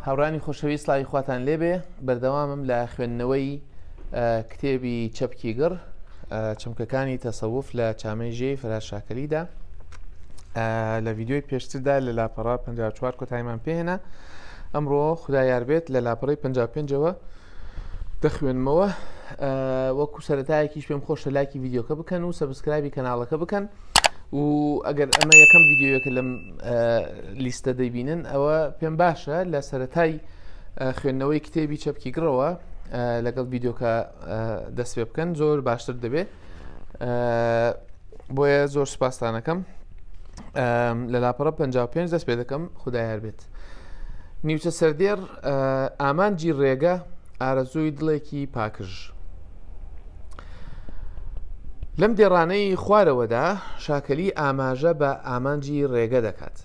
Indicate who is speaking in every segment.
Speaker 1: هاوڕانی خۆشەوی سلاوی خواتان لێبێ بەردەوامم لە خوێندنەوەی کتێبی چەپکی گڕ چمکەکانی تەسەوف لە چامەی ژێ فراشاکەلیدا لە ویددیوی پێشتردا لە لاپەڕا 54 کۆتایمان پێێنە ئەمڕۆ خدا یاربێت لە لاپەڕی 55ەوە دەخوێنمەوە وەکو سەرەتایەکیش پێم خۆشە لاکی ڤیددیوکە بکەن و سەبسکرابی کەناڵەکە بکەن و ئەگەر ئەمە یەکەم ڤیددیوەکە لەم لیستە دەیبینن ئەوە پێم باشە لە سەتای خوێندنەوەی کتێبی چەپکی گڕەوە لەگەڵ ڤیددیوکە دەست پێ بکەن زۆر باشتر دەبێت بۆیە زۆر سوپاستانەکەم لە لاپەڕە 55 دەست پێ دەکەم خدایار بێت نیوچە سەردێر ئامانجی ڕێگە ئارەزووی دڵێکی پاکژ لەم دێڕانەی خوارەوەدا شاکەلی ئاماژە بە ئامانجی ڕێگە دەکات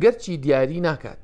Speaker 1: گەرچی دیاری ناکات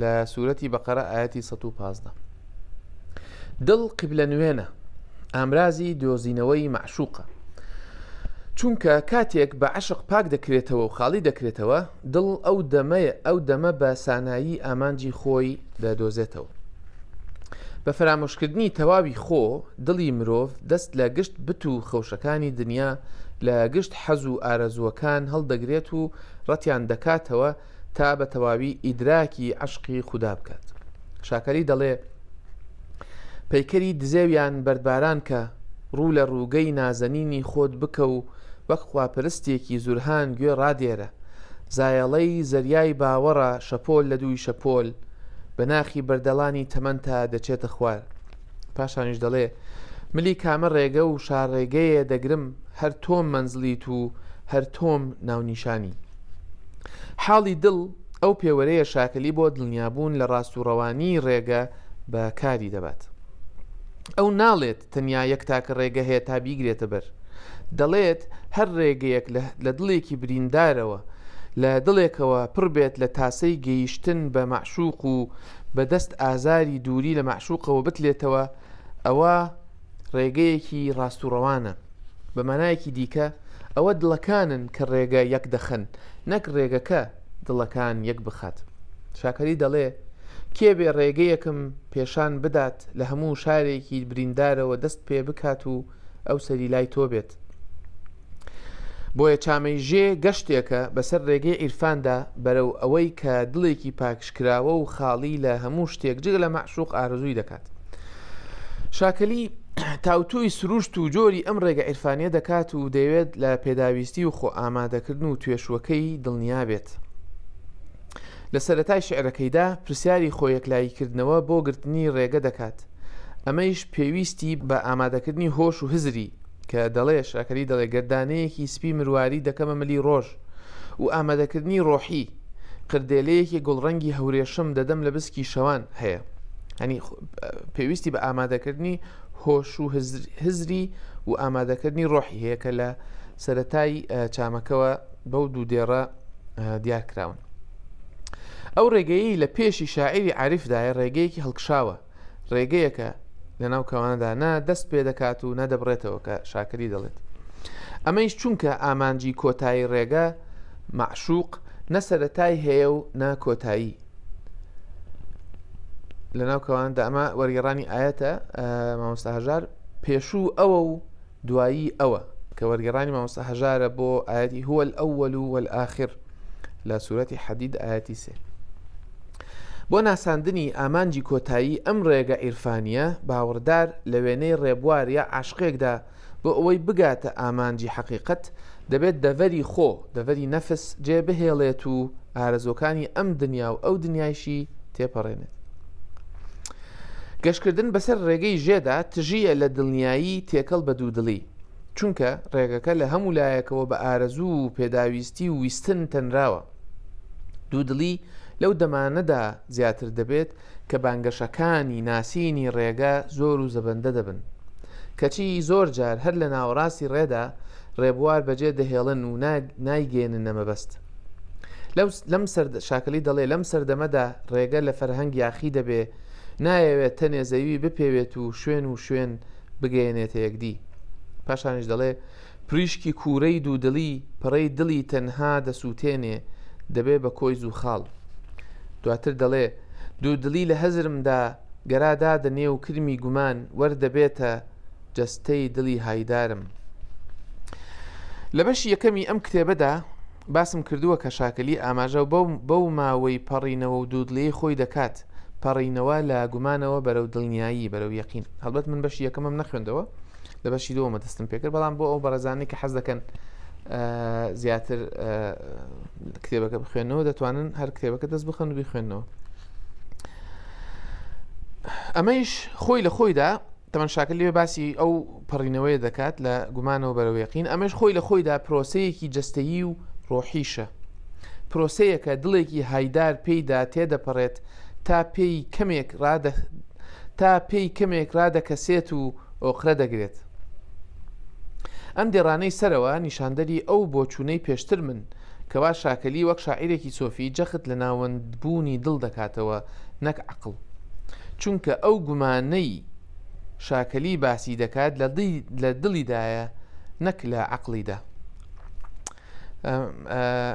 Speaker 1: لە سوورەتی بەقەرە ئاەتی 115 دڵ قبلە نوێنە ئامرازی دۆزینەوەی معشوقە چونکە کاتێک بە عشق پاک دەکرێتەوە و خاڵی دەکرێتەوە دڵ ئەو دەمەیە ئەو دەمە بە سانایی ئامانجی خۆی دەدۆزێتەوە بە فەرامۆشکردنی تەواوی خۆ دڵی مرۆڤ دەست لە گشت بت و خەوشەکانی دنیا لە گشت حەز و ئارەزووەکان هەڵدەگرێت و ڕەتیان دەکاتەوە تا بە تەواوی ئیدراکی عەشقی خودا بکات شاکەلی دەڵێ پەیکەری دزێویان بەردباران کە ڕوو لە ڕووگەی نازەنینی خۆت بکە و وەک خواپەرستێکی زورهان گوێ ڕادێرە زایەڵەی زەریای باوەڕە شەپۆل لە دووی شەپۆل بە ناخی بەردەڵانی تەمەنتا دەچێتە خوار پاشانیش دەڵێ، ملی کامە ڕێگە و شارڕێگەیێ دەگرم، هەر تۆم مەنزڵیت و هەر تۆم ناونیشانی. حاڵی دڵ ئەو پێوەرەیە شاکەلی بۆ دڵنیابوون لە ڕاست و ڕەوانیی ڕێگە بە کاری دەبات. ئەو ناڵێت تەنیا یەک تاکە ڕێگە هەیە تا بیگرێتە بەر. دەڵێت هەر ڕێگەیەک لە دڵێکی بریندارەوە، لە دڵێکەوە پڕ بێت لە تاسەی گەیشتن بە مەعشووق و بە دەست ئازاری دووری لە مەعشوقەوە بتلێتەوە ئەوە ڕێگەیەکی ڕاست و ڕەوانە بە مانایەکی دیکە ئەوە دڵەکانن کە ڕێگە یەک دەخەن نەک ڕێگەکە دڵەکان یەک بخات شاکەری دەڵێ کێبێ ڕێگەیەکم پێشان بدات لە هەموو شارێکی بریندارەوە دەست پێ بکات و ئەو سەری لای تۆ بێت. بۆیە چامەیژێ گەشتێکە بەسەر ڕێگەی عیرفاندا بەرەو ئەوەی کە دڵێکی پاکشکراوە و خاڵی لە هەموو شتێک جگە لە مەعشوق ئارزووی دەکات شاکەلی تاوتۆی سروشت و جۆری ئەم ڕێگە عیرفانە دەکات و دەیەوێت لە پێداویستی و خۆ ئامادەکردن و توێشوەکەی دڵنیا بێت لە سەرەتای شیعرەکەیدا پرسیاری خۆیەکلاییکردنەوە بۆ گرتنی ڕێگە دەکات، ئەمەیش پێویستی بە ئامادەکردنی هۆش و هزری، کە دەڵێ، شاکەلی دەڵێ، گەر دانەیەکی سپی مرواری دەکەمە ملی ڕۆژ و ئامادەکردنی ڕۆحی، قردێلەیەکی گوڵڕەنگی هەورێشم دەدەم لە بسکی شەوان، هەیە. یانی پێویستی بە ئامادەکردنی هۆش و هزری و ئامادەکردنی ڕۆحی هەیە کە لە سەرەتای چامەکەوە بەو دوو دێڕە دیار کراون ئەو ڕێگەیی لە پێشی شاعری عریفدایە ڕێگەیەکی هەڵکشاوە ڕێگەیەکە لەناو کەوانەدا نە دەست پێ دەکات و نەدەبڕێتەوە کە شاکری دەڵێت ئەمەیش چونکە ئامانجی کۆتایی ڕێگە معشوق نە سەرەتای هەیە و نە کۆتایی لەناو کەواندا ئەمە وەرگێڕانی ئاەتە مامۆستا هەژار پێشوو ئەوە و دوایی ئەوە کە وەرگێڕانی مامۆستا هەژارە بۆ ئاەتی هو الأول والآخر لە سوورەتی حەدید ئاەتی سێ بۆ ناساندنی ئامانجی کۆتایی ئەم ڕێگە ئیرفانیە باوەڕدار لە وێنەی ڕێبوار یا عاشقێکدا بۆ ئەوەی بگاتە ئامانجی حەقیقت دەبێت دەڤەری خۆ، دەڤەری نەفس جێ بهێڵێت و ئارەزووەکانی ئەم دنیا و ئەو دنیایشی تێپەڕێنێت. گەشتکردن بەسەر ڕێگەی ژێدا تژییە لە دڵنیایی تێکەڵ بە دوودڵی، چونکە ڕێگەکە لە هەموو لایەکەوە بە ئارەزوو و پێداویستی و ویستن تەنراوە. دوودڵی لەو دەمانەدا زیاتر دەبێت کە بانگەشەکانی ناسینی ڕێگە زۆر و زەبەندە دەبن، کەچی زۆر جار هەر لە ناوەڕاستی ڕێدا ڕێبوار بەجێ دەهێڵن و نایگەیەننە مەبەست. شاکەلی دەڵێ، لەم سەردەمەدا ڕێگە لە فەرهەنگ یاخی دەبێ، نایەوێ تەنێ زەوی بپێوێت و شوێن و شوێن بگەیەنێتە یەکدی. پاشانیش دەڵێ. پریشکی کوورەی دوودڵی پەڕەی دڵی تەنها دەسووتێنێ دەبێ بە کۆی زووخاڵ دواتر دەڵێ دوودڵی لە هەزرمدا گەرا دادە نێو کرمی گومان وەر دەبێتە جەستەی دڵی هایدارم لە بەشی یەکەمی ئەم کتێبەدا باسم کردووە کە شاکەلی ئاماژە بەو بەو ماوەی پەڕینەوە و دوودڵی خۆی دەکات پەڕینەوە لە گومانەوە بەرەو دڵنیایی بەرەو یەقین هەڵبەت من بەشی یەکەمەم نەخوێندەوە لە بەشی دووەمە دەستم پێکرد بەڵام بۆ ئەو بەڕێزانانی کە حەز دەکەن زیاتر کتێبەکە بخوێنەوە دەتوانن هەر کتێبەکە دەست بخەن و بخوێنەوە ئەمەیش خۆی لە خۆیدا تەمەەن شاکل لێ باسی ئەو پەڕینەوەی دەکات لە گومانەوە بەرەوەیقین ئەمەش خۆی لە خۆیدا پرۆسەیەکی جستەیی و ڕۆحیشە پرۆسەیەکە دڵێکی هایدار پێیدا تێدەپەڕێت تا پێی کەمێک ڕادە تا پێی کەمێک ڕادەکەسێت و ئۆقرە دەگرێت. ئەم دێڕانەی سەرەوە نیشاندەری ئەو بۆچوونەی پێشترمن، کەوا شاکەلی وەک شاعیرێکی سۆفی جەخت لە ناوەندبوونی دڵ دەکاتەوە نەک عەقڵ. چونکە ئەو گومانەی شاکەلی باسی دەکات لە دڵیدایە نەک لە عەقڵیدا.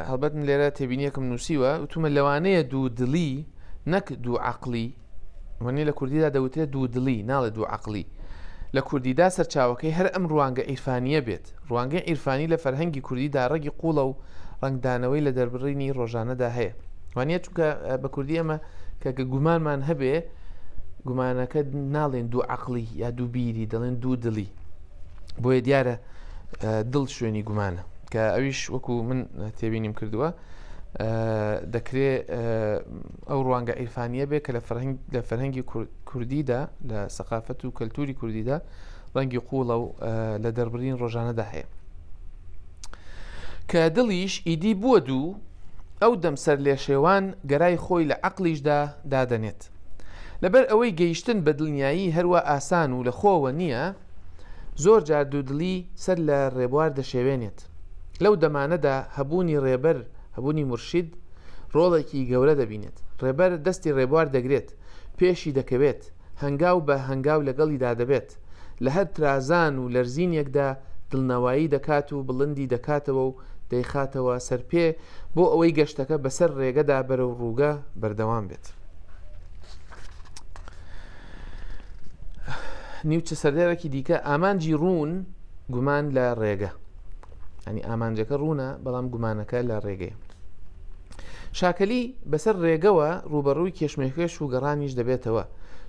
Speaker 1: هەڵبەت من لێرە تێبینیەکم نووسیوە، وتوومە لەوانەیە دوو دڵی نەک دوو عەقڵی. وەنی لە کوردیدا دەوترێت دوو دڵی ناڵێ دوو عقلی لە کوردیدا سەرچاوەکەی هەر ئەم ڕوانگە ئیرفانیە بێت ڕوانگەی ئیرفانی لە فەرهەنگی کوردیدا ڕەگی قوڵە و ڕنگدانەوەی لە دەربڕینی ڕۆژانەدا هەیە وانە چونکە بە کوردی ئەمە کە گومانمان هەبێ گومانەکە ناڵێن دوو عقلی یا دوو بیری دەڵێن دوو دڵی بۆیە دیارە دڵ شوێنی گومانە کە ئەویش وەکو من تێبینیم کردووە دەکرێ ئەو ڕوانگە عیرفانییە بێ کە لە فەرهەنگی کوردیدا لە سەقافەت و کەلتوری کوردیدا ڕەنگی قوڵە و لە دەربرین ڕۆژانەدا هەیە کە دڵیش ئیدی بووە دوو ئەو دەمسەر لێ شێوان گەرای خۆی لە عقلیشدا دادەنێت لەبەر ئەوەی گەیشتن بە دڵنیایی هەروە ئاسان و لە خۆوە نییە زۆر جار دوودڵی سەر لە ڕێبوار دەشێوێنێت. لەو دەمانەدا هەبوونی ڕێبەر، هەبوونی مورشید ڕۆڵێکی گەورە دەبینێت. ڕێبەر دەستی ڕێبوار دەگرێت، پێشی دەکەوێت، هەنگاو بە هەنگاو لەگەڵیدا دەبێت. لە هەر ترازان و لەرزینێکدا دڵنەوایی دەکات و بڵندی دەکاتەوە و دەیخاتەوە سەر پێ بۆ ئەوەی گەشتەکە بەسەر ڕێگەدا بەرەو ڕووگە بەردەوام بێت. نیوچە سەردێرەکی دیکە ئامانجی ڕوون گومان لە ڕێگە ئەنی ئامانجەکە ڕوونە بەڵام گومانەکە لە ڕێگەی شاکەلی بەسەر ڕێگەوە ڕوبەڕووی کێشمێکێش و گەڕانیش دەبێتەوە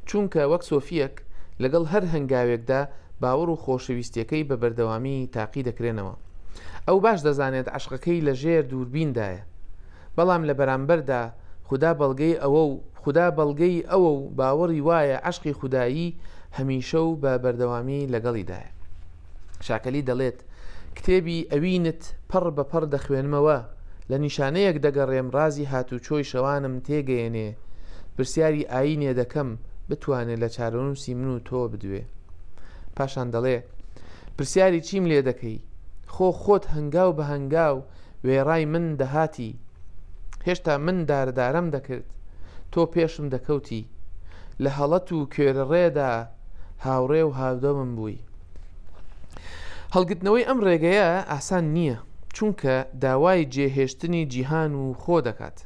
Speaker 1: چونکە وەک سۆفیەک لەگەڵ هەر هەنگاوێکدا باوەڕ و خۆشەویستیەکەی بە بەردەوامی تاقی دەکرێنەوە ئەو باش دەزانێت عەشقەکەی لە ژێر دووربیندایە بەڵام لە بەرامبەردا خودا بەڵگەی ئەوە و خودا بەڵگەی ئەوە و باوەڕی وایە عەشقی خودایی هەمیشە و بە بەردەوامی لەگەڵیدایە شاکەلی دەڵێت کتێبی ئەوینت پەڕ بە پەڕ دەخوێنمەوە لە نیشانەیەک دەگەڕێم ڕازی هاتوچۆی شەوانم تێگەیەنێ پرسیاری ئاینێ دەکەم بتوانێت لە چارەنووسی من و تۆ بدوێ پاشان دەڵێ، پرسیاری چیم لێ دەکەی؟ خۆ خۆت هەنگاو بە هەنگاو وێڕای من دەهاتی، هێشتا من داردارەم دەکرد، تۆ پێشم دەکەوتی، لە هەڵەت و کوێرەڕێدا هاوڕێ و هاودەمم بووی. هەڵگرتنەوەی ئەم ڕێگەیە ئاسان نییە، چونکە داوای جێهێشتنی جیهان و خۆ دەکات.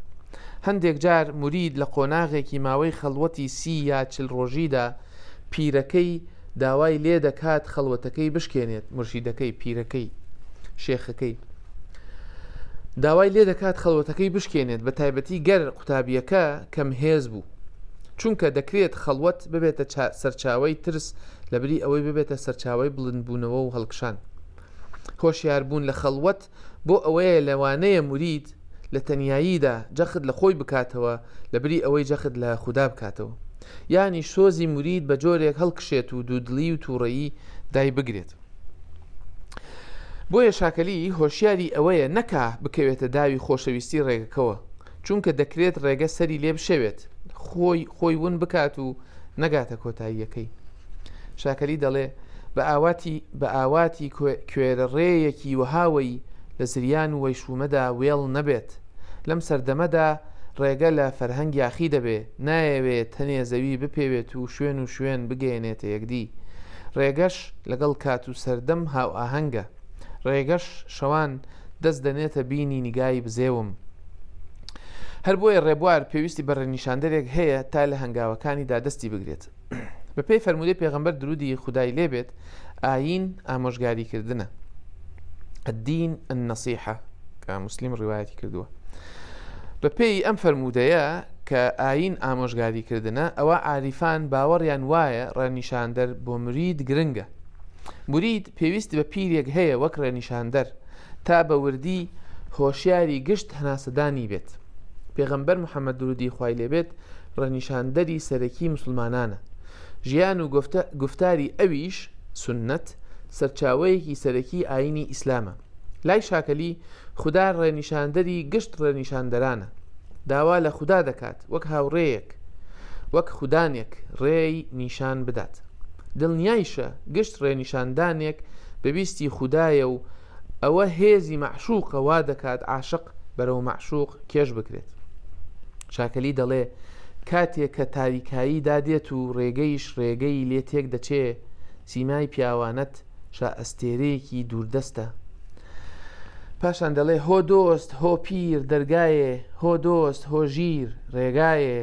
Speaker 1: هەندێک جار مورید لە قۆناغێکی ماوەی خەڵوەتی سی یا چل ڕۆژیدا، پیرەکەی داوای لێ دەکات خەڵوەتەکەی بشکێنێت مرشیدەکەی پیرەکەی شێخەکەی داوای لێ دەکات خەڵوەتەکەی بشکێنێت بە تایبەتی گەر قوتابیەکە کەم هێز بوو چونکە دەکرێت خەڵوەت ببێتە سەرچاوی ترس لەبری ئەوەی ببێتە سەرچاوی بڵندبوونەوە و هەڵکشان هۆشیاربوون لە خەڵوەت بۆ ئەوەیە لەوانەیە مورید لە تەنیاییدا جەخت لە خۆی بکاتەوە لەبری ئەوەی جەخت لە خودا بکاتەوە. یانی سۆزی مورید بە جۆرێک هەڵکشێت و دوودڵی و تووڕەیی دایبگرێت. بۆیە شاکەلی هۆشیاری ئەوەیە نەکا بکەوێتە داوی خۆشەویستی ڕێگەکەوە، چونکە دەکرێت ڕێگە سەری لێ بشێوێت، خۆی خۆی ون بکات و نەگاتە کۆتاییەکەی. شاکەلی دەڵێ، بە ئاواتی بە ئاواتی کوێرەڕێیەکی وەهاوەی لە زریان و وەیشوومەدا وێڵ نەبێت. لەم سەردەمەدا ڕێگە لە فەرهەنگ یاخی دەبێ، نایەوێ تەنێ زەوی بپێوێت و شوێن و شوێن بگەیەنێتە یەکدی. ڕێگەش لەگەڵ کات و سەردەم هاوئاهەنگە. ڕێگەش شەوان دەست دەنێتە بینی نیگای بزێوم. هەر بۆیە ڕێبوار پێویستی بە ڕێنیشاندەرێک هەیە تا لە هەنگاوەکانیدا دەستی بگرێت. بەپێی فەرموودەی پێغەمبەر درودی خودای لێبێت ئاین ئامۆژگاری کردنە الدین النصیحە کە مسلیم ڕواەتی کردووە بەپێی ئەم فەرموودەیە کە ئاین ئامۆژگاری کردنە ئەوە عریفان باوەڕیان وایە ڕێنیشاندەر بۆ مرید گرنگە مرید پێویست بە پیرێک هەیە وەک ڕێنیشاندەر تا بە وردی هۆشیاری گشت هەناسەدانی بێت پێغەمبەر محەممەد درودی خی لێبێت ڕەنیشاندەری سەرەکی موسڵمانانە، ژیان و گوفتاری ئەویش، سوننەت، سەرچاوەیەکی سەرەکی ئایینی ئیسلامە. لای شاکەلی، خودا ڕێنیشاندەری گشت ڕێنیشاندەرانە، داوا لە خودا دەکات وەک هاوڕێیەک، وەک خودانێک ڕێی نیشان بدات. دڵنیایشە گشت ڕێنیشاندانێک بە ویستی خودایە و ئەوە هێزی مەعشووقە وا دەکات عاشق بەرەو مەعشووق کێش بکرێت. چاکەلی دەڵێ، کاتێ کە تاریکایی دا دێت و ڕێگەیش ڕێگەی لێ تێک دەچێ، سیمای پیاوانەت شائەستێرەیەکی دووردەستە. پاشان دەڵێ، هۆ دۆست، هۆ پیر، دەرگایێ، هۆ دۆست، هۆ ژیر، ڕێگایێ.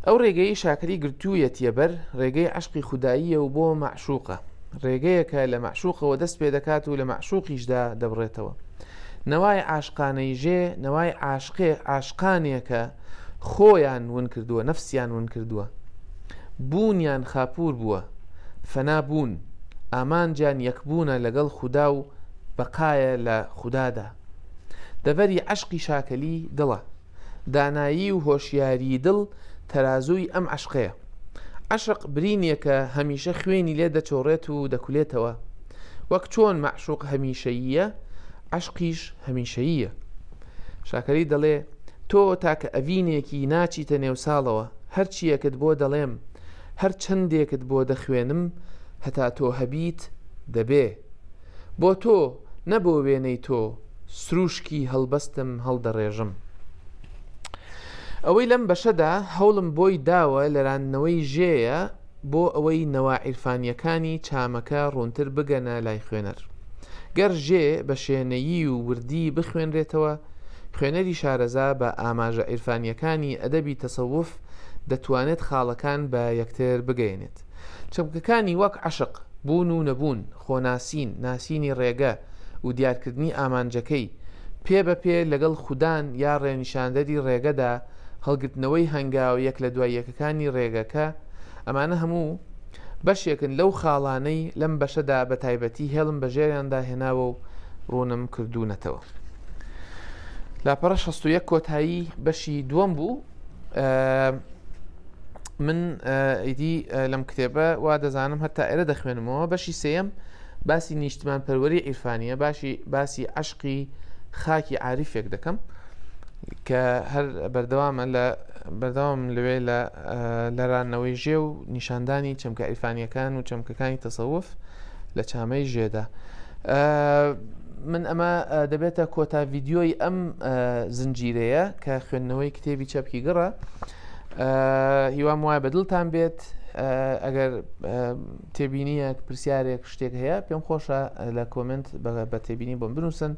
Speaker 1: ئەو ڕێگەیەی شاکری گرتوویەتیە بەر، ڕێگەی عەشقی خوداییە و بۆ مەعشوقە، ڕێگەیەکە لە مەعشوقەوە دەست پێ دەکات و لە مەعشوقیشدا دەبڕێتەوە. نەوای عاشقانەی ژێ، نەوای عاشقێ، عاشقانێکە خۆیان ون کردووە، نەفسیان ون کردووە. بوونیان خاپوور بووە، فەنا بوون. ئامانجیان یەکبوونە لەگەڵ خودا و بەقایە لە خودادا. دەڤەری عەشقی شاکەلی دڵە. دانایی و هۆشیاریی دڵ تەرازووی ئەم عەشقەیە. عەشق برینێکە هەمیشە خوێنی لێ دەچۆڕێت و دەکولێتەوە. وەک چۆن مەعشووق هەمیشەییە، عەشقیش هەمیشەییە. شاکەلی دەڵێ، تۆ تاکە ئەڤینێکی ناچیتە نێو ساڵەوە، هەر چییەکت بۆ دەڵێم، هەر چەندێکت بۆ دەخوێنم، هەتا تۆ هەبیت، دەبێ. بۆ تۆ، نە بۆ وێنەی تۆ، سرووشکی هەڵبەستم هەڵدەڕێژم. ئەوەی لەم بەشەدا هەوڵم بۆی داوە لەراندنەوەی ژێیە بۆ ئەوەی نەوا عیرفانییەکانی چامەکە ڕوونتر بگەنە لای خوێنەر. گەر ژێ بە شێنەیی و وردی بخوێنرێتەوە، خوێنەری شارەزا بە ئاماژە عیرفانییەکانی ئەدەبی تەسەوف دەتوانێت خاڵەکان بە یەکتر بگەیەنێت. چەمکەکانی وەک عەشق، بوون و نەبوون، خۆناسین، ناسینی ڕێگە و دیارکردنی ئامانجەکەی، پێ بە پێ لەگەڵ خودان یا ڕێنیشاندەری ڕێگەدا، هەڵگرتنەوەی هەنگاوە یەک لە دوای یەکەکانی ڕێگەکە، ئەمانە هەموو بەشێکن لەو خاڵانەی لەم بەشەدا بە تایبەتی هێڵم بە ژێریاندا هێناوە و ڕوونم کردوونەتەوە. لاپەڕە شەست و یەک کۆتایی بەشی دووەم بوو. من ئیدی لەم کتێبە وا دەزانم هەتا ئێرە دەخوێنمەوە بەشی سێم باسی نیشتمان پەروەری عیرفانیە باشی باسی عشقی خاکی عاریفێک دەکەم کە هەر بەردەوامە لە بەردەوام لەوێ لە لەرانەوەی ژێ و نیشاندانی چەمکە ئیفانیەکان و چەمکەکانی تەسەوف لە چامەی ژێدا من ئەمە دەبێتە کۆتا ڤیددیۆی ئەم زنجیرەیە کە خوێندنەوەی کتێبی چەپکی گڕە هیوام وایە بەدڵتان بێت ئەگەر تێبینیەک پرسیارێک شتێک هەیە پێم خۆشە لە کۆمنت بە تێبینی بۆم بنووسن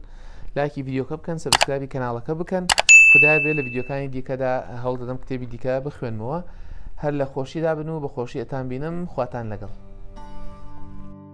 Speaker 1: لاکی یددیوکە بکەن سەبسکرابی کەناڵەکە بکەن خدای بێ لە یددیوکانی دیکەدا هەڵ دەدەم کتێبی دیکە بخوێنمەوە هەر لە خۆشیدا بن و بە خۆشی ئەتان بینم خواتان لەگەڵ